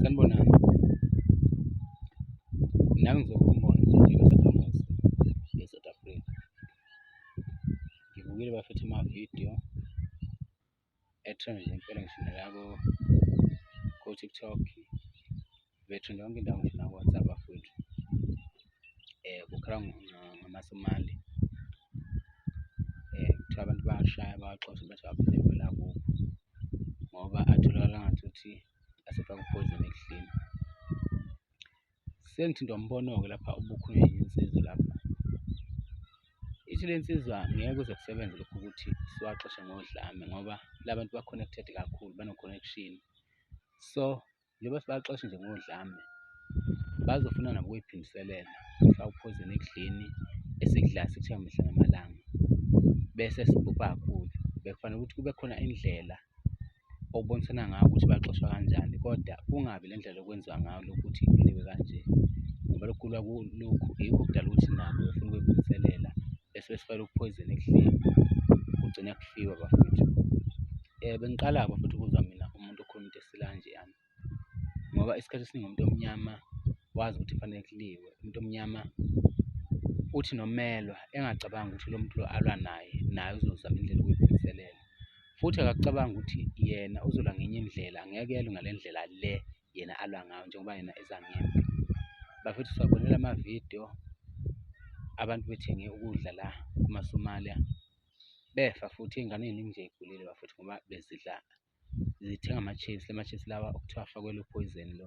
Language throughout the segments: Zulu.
sanibonani nami ngizokumbona nje njengosakhamuzi e-south africa ngibukile bafethe amavidiyo ethrenje impela ngisho nalabo ko-tiktok bethrenje yonke indawo ngisho nako-whatsapp bafowethu eh kukhala ngamasomali eh kuthiwa abantu bayashaya bawaxoshe bathi aphinde kwela kubo ngoba atholakala ngathuthi asefaka uphoyizeni ekudleni sengithintwa umbono-ke lapha ubukhulunywa insizwa lapha ithi le nsizwa ngeke kuze kusebenze lokhu ukuthi siwaxoshe ngodlame ngoba labantu ba-connected kakhulu bano-connection so njengoba sibaxoshe nje ngodlame bazofuna nabo ukuyiphindiselela sawuphuzeni ekudleni esikudla sithiwa mihla namalanga bese sibhubha kakhulu bekufanele ukuthi kube khona indlela okubonisana ngayo ukuthi baxoshwa kanjani kodwa kungabi le ndlela okwenziwa ngayo lokuthi kuliwe kanje ngoba lokhu kulwa kulokhu yikho okudala ukuthi nabo befuna ukuyiphindiselela bese besifela ukuphoyizeni ekudleni kugcine kufiwa bafethu um bengiqala-ke bafethu ukuzwa mina umuntu okhuluma into ngicela kanje yami ngoba isikhathi esiningi umuntu omnyama wazi ukuthi kufanele kuliwe umuntu omnyama uthi nomelwa engacabangi ukuthi lo muntu lo alwa naye naye uzozama indlela ukuyiphindiselela futhi akakucabanga ukuthi yena uzola ngenye indlela angeke yelwe ngale ndlela le yena alwa ngayo njengoba yena ezangempi bafethu siwabonela amavidiyo abantu bethenge ukudla la kumasomalia befa futhi ingane eningi nje igulile bafethu ngoba bezidla zithenga ama-chips, la ma-chips lawa okuthiwa afakwelwe uphoyizeni lo.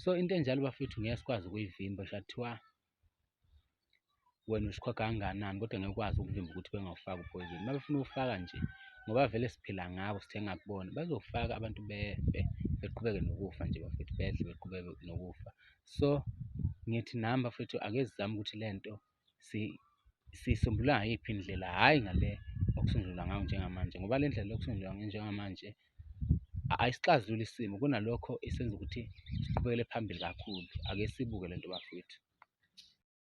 So into enjalo bafethu ngeke sikwazi ukuyivimba, sha kuthiwa wena usikhokha kangakanani kodwa ngeke ukwazi ukuvimba ukuthi bengawufaki uphoyizeni. Uma befuna uwufaka nje ngoba vele siphila ngabo sithenga kubona, bazofaka abantu befe beqhubeke nokufa nje bafethu, bedle beqhubeke nokufa. So ngithi nami bafethu ake sizame ukuthi le nto siyisombulula ngayiphi indlela hhayi ngale okusungulwa ngayo njengamanje ngoba le ndlela yokusungulwa ngayo njengamanje ayisixazululi isimo kunalokho isenza ukuthi siqhubekele phambili kakhulu ake sibuke le nto bafowethu.